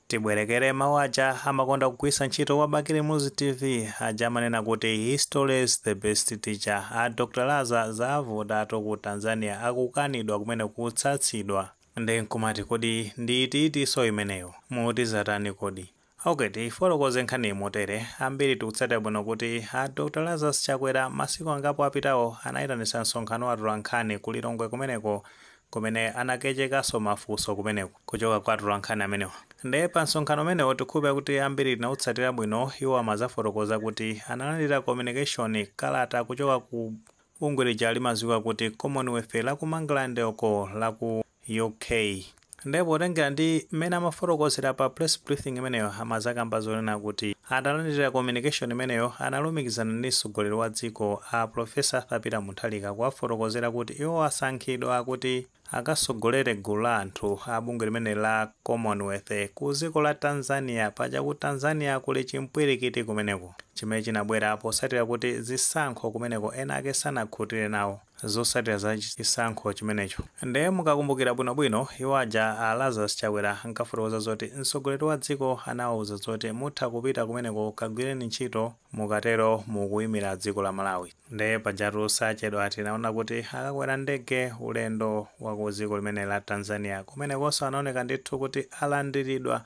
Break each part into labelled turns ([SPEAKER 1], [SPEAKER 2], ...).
[SPEAKER 1] Tibwerekere mawu aja amakonda kugwiritsa ntchito kwa Bakili Muluzi TV aja amanena kuti history is the best teacher. A Dr. Laza zavuta tu ku Tanzania akukanidwa kumene kutsutsidwa. Nde nkumati kodi ndi itinso imeneyo? Muti zatani kodi? Ok tiyifotokoze nkhaniyi motere, ambiri tikutsatira bwino kuti a Dr. Lazarus Chakwera masiku angapo apitawo anayitanitsa msonkhano wa atolankhani ku Lilongwe kumeneko kumene anakachekanso mafunso kumeneko kuchoka kwa atolankhani amenewa nde pa msonkhano umenewo tikukhulupira kuti ambiri tinautsatira bwino iwo amazafotokoza kuti analandira communication, kalata, kuchoka ku bungwe lija limaziwika kuti commonwealth la ku mangalande uko la ku UK nde potengera ndi mmene amafotokozera pa press briefing imeneyo amazakamba zonena kuti atalandira communication imeneyo analumikizana ndi mtsogoleri wa dziko a professor arthur peter Mutharika kuwafotokozera kuti iwo asankhidwa kuti akasogolere gulu la anthu a bungwe limeneli la Commonwealth ku ziko la Tanzania paja ku Tanzania kuli chimpwirikiti kumeneko chimene chinabwera posatira kuti zisankho kumeneko ena ake sanakhutire nawo zosatira za chisankho chimenecho nde mukakumbukira bwino bwino iwo aja a Lazarus Chakwera ankafotokoza zoti mtsogoleri wa dziko anawauza zoti mutha kupita kumeneko kagwireni ntchito mukatero mukuimira dziko la Malawi. Nde pajatu posachedwa tinaona kuti akakwera ndege ulendo wa ku dziko limeneli la Tanzania kumenekonso anaoneka ndithu kuti alandiridwa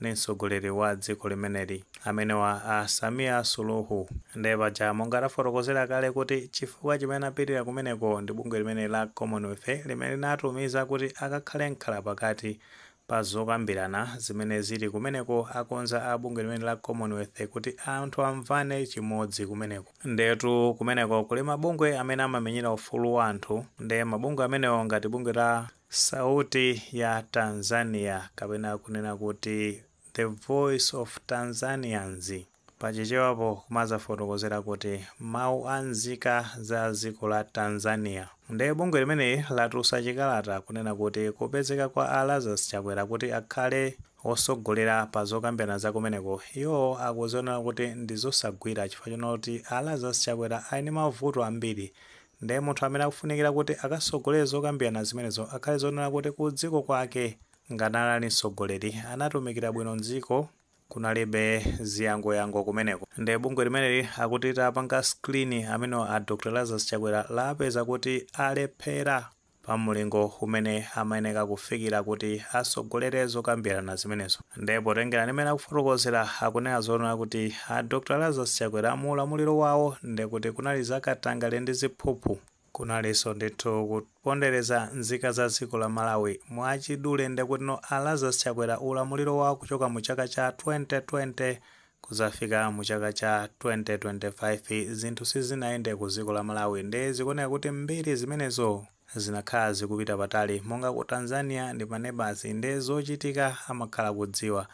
[SPEAKER 1] ndi mtsogoleri wa dziko limeneli amenewa a Samia Suluhu. Nde paja monga tafotokozera kale kuti chifukwa chimene anapitira kumeneko ndi bungwe limeneli la Commonwealth limene linawatumiza kuti akakhale mkhalapakati Pa zokambirana zimene zili kumeneko akonza a bungwe limeneli la Commonwealth kuti anthu amvane chimodzi kumeneko. Ndiyetu kumeneko kuli mabungwe amene amamenyera ufulu wa anthu nde mabungwe amenewo ngati bungwe la Sauti ya Tanzania kapena kunena kuti The Voice of Tanzanians, Pa Chichewapo kumazafotokozera kuti mau a nzika za dziko la Tanzania. Nde bungwe limeneli latulusa chikalata kunena kuti kupezeka kwa a Lazarus Chakwera kuti akhale wosogolera pa zokambirana za kumeneko iwo akuziona kuti ndizosagwira chifukwa chonena kuti a Lazarus Chakwera ali ndi mavuto ambiri nde munthu amene akufunikira kuti akasogolere zokambirana zimenezo akhale zonena kuti ku dziko kwake ngati anali msogoleri anatumikira bwino dziko kunalibe ziyangoyango kumeneko nde bungwe limeneli akuti litapanga screen amenewa a dokotala lazarus chakwera lapeza kuti alephera pa mlingo umene amayeneka kufikira kuti asogolere zokambirana zimenezo nde potengera ndi mmene akufotokozera akunena zonena kuti a dokotala lazarus chakwera mu ulamuliro wawo ndekuti kunali zakatangale ndi ziphuphu Kunalinso ndithu kupondeleza nzika za dziko la Malawi. Mwachidule nde kutino a Lazarus Chakwera ulamuliro wawo kuchoka mu chaka cha 2020 kuzafika mu chaka cha 2025 zinthu sizinayende ku dziko la Malawi nde zikuoneka kuti mbiri zimenezo zinakhala zikupita patali monga ku Tanzania ndi pa neighbours nde zochitika amakhala kudziwa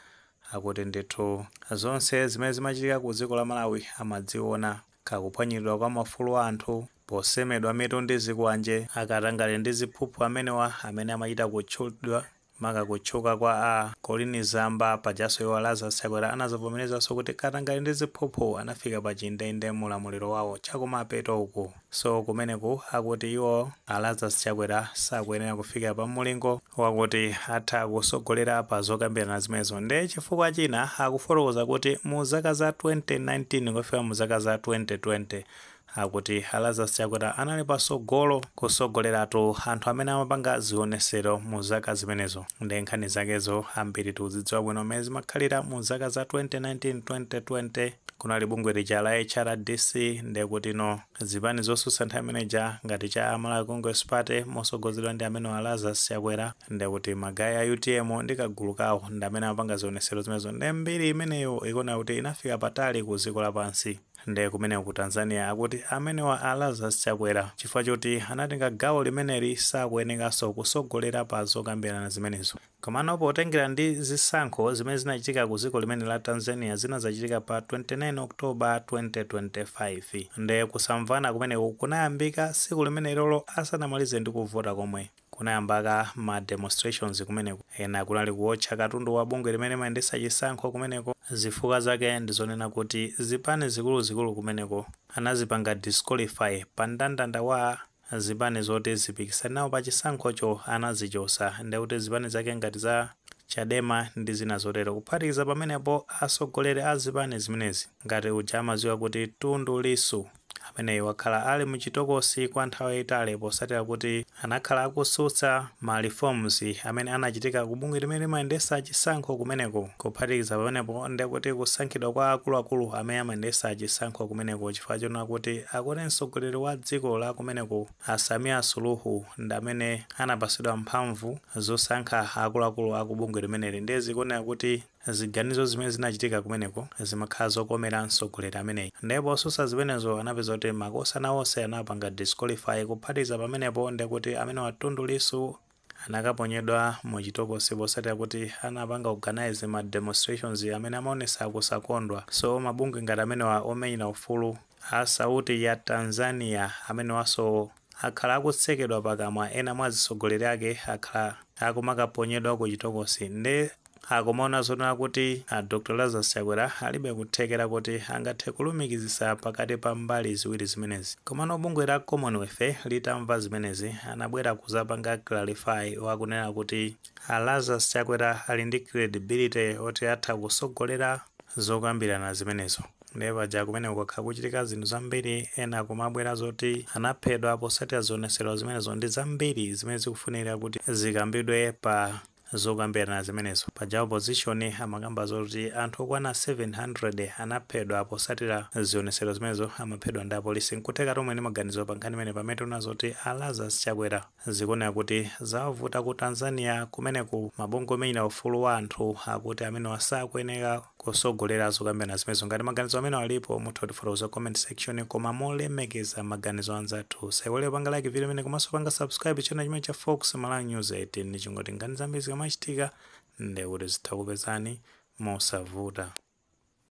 [SPEAKER 1] akuti ndithu zonse zimene zimachitika ku dziko la Malawi amadziona ka kuphwanyiridwa kwa maufulu a anthu posemedwa mitu ndi zikwanje, akatangale ndi ziphuphu amenewa amene amachita kutchudwa, maka kutchuka kwa a Colleen Zamba, pajanso iwo a Lazarus Chakwera anazavomerezanso kuti katangale ndi ziphuphu anafika pa chindeinde mu ulamuliro wawo chakumapeto uku, so kumeneku akuti iwo a Lazarus Chakwera sakuyenera kufikira pa mulingo wakuti atha kusogolera pa zokambirana zimenezo nde chifukwa china akufotokoza kuti mu zaka za 2019 kufika mu zaka za 2020 akuti a Lazarus Chakwera anali pasogolo kusogoleratu anthu amene amapanga zionesero mu zaka zimenezo nde nkhani zakezo ambiri tikuzidziwa bwino mmene zimakhalira mu zaka za 2019 2020 kunali bungwe lija la HRDC nde kutino Zipani zosutsa nthawi imene ija ngati cha Malawi Congress Party mosogozedwa ndi amenewa Lazarus Chakwera ndekuti magaye a UTM ndi kagulu kawo ndamene amapanga zionesero zimenezo nde mbiri imeneyo ikuoneka kuti inafika patali ku dziko lapansi nde kumeneko ku Tanzania akuti amenewa a Lazarus Chakwera chifukwa choti anatenga gawo limeneli sakuyenekanso kusogolera pa zokambirana zimenezo. Komano potengera ndi zisankho zimene zinachitika ku dziko limene la Tanzania zinazachitika pa 29 October 2025 nde kusamvana kumeneko kunayambika tsiku limenelolo asanamalize ndi kuvota komwe kunayambika ma demonstrations kumeneko ena kunali kuotcha katundu wa bungwe limene limayendetsa chisankho kumeneko zifukwa zake ndizonena kuti zipani zikuluzikulu kumeneko anazipanga disqualify pa ndandanda wa zipani zoti zipikisane nawo pa chisankhocho anazichosa ndekuti zipani zake ngati za Chadema ndi zina zotero. Kuphatikiza pamenepo atsogoleri a zipani zimenezi ngati uja amadziwika kuti Tundu Lissu ameneyi wakhala ali mu chitokosi kwa nthawi yayitali potsatira kuti anakhala akutsutsa ma reforms amene anachitika ku bungwe limene limayendetsa chisankho kumeneko. Kuphatikiza pamenepo, ndekuti kusankhidwa kwa akuluakulu amene amayendesa chisankho kumeneko chifukwa choona kuti akuti mtsogoleri wa dziko la kumeneko a Samia Suluhu ndamene anapasidwa mphamvu zosankha akuluakulu aku bungwe limeneli ndiye zikuoneka kuti ziganizo zimene zinachitika kumeneko zimakhala zokomera mtsogoleri ameneyi ndiye posusa zimenezo anapeza kuti makosana onse anapanga disqualify kuphatikiza pamenepo ndekuti amenewa Tundu Lissu anakaponyedwa mu chitokosi posatira kuti anapanga organise ma demonstrations amene amaonesa kusakondwa, so mabungwe ngati amenewa omenyera ufulu a sauti ya Tanzania amenewaso akhala akutsekedwa pakamwa ena mwa azitsogoleri ake akhala akumakaponyedwa ku chitokosi nde akumaona zoona kuti a Dr Lazarus Chakwera alibe kuthekera kuti angathe kulumikizisa pakati pa mbali ziwiri zimenezi. Komano bungwe la Commonwealth litamva zimenezi anabwera kuzapanga clarify wakunena kuti a Lazarus Chakwera ali ndi credibility oti atha kusogolera zokambirana zimenezo. Ndiye paja kumeneko kwakhala kuchitika zinthu zambiri ena kumabwera zoti anaphedwa posatira zionesero zimenezo ndi zambiri zimene zikufunikira kuti zikambidwe pa Zokambirana zimenezo. Paja opposition amakamba zoti anthu okwana 700 anaphedwa posatira zionetsero zimenezo amaphedwa ndi apolisi. Nkutheka kuti muli ndi maganizo pa nkhani imeneyi pamene tikuona zoti a Lazarus Chakwera zikuoneka kuti zawavuta ku Tanzania kumeneku. Mabungwe omenyera ufulu wa anthu akuti amenewa sakuyenera. kusogolera zokambirana zimenezo. Ngati maganizo amenewa alipo, mutha kutifotokoza ku comment section koma molemekeza maganizo a anzathu. Musaiwale kupanga like video imeneyi komanso panga subscribe channel chimenechi cha Fox Malawi News 18 ndi cholinga choti nkhani zambiri zikamachitika ndiye kuti zitha kupezani mosavuta.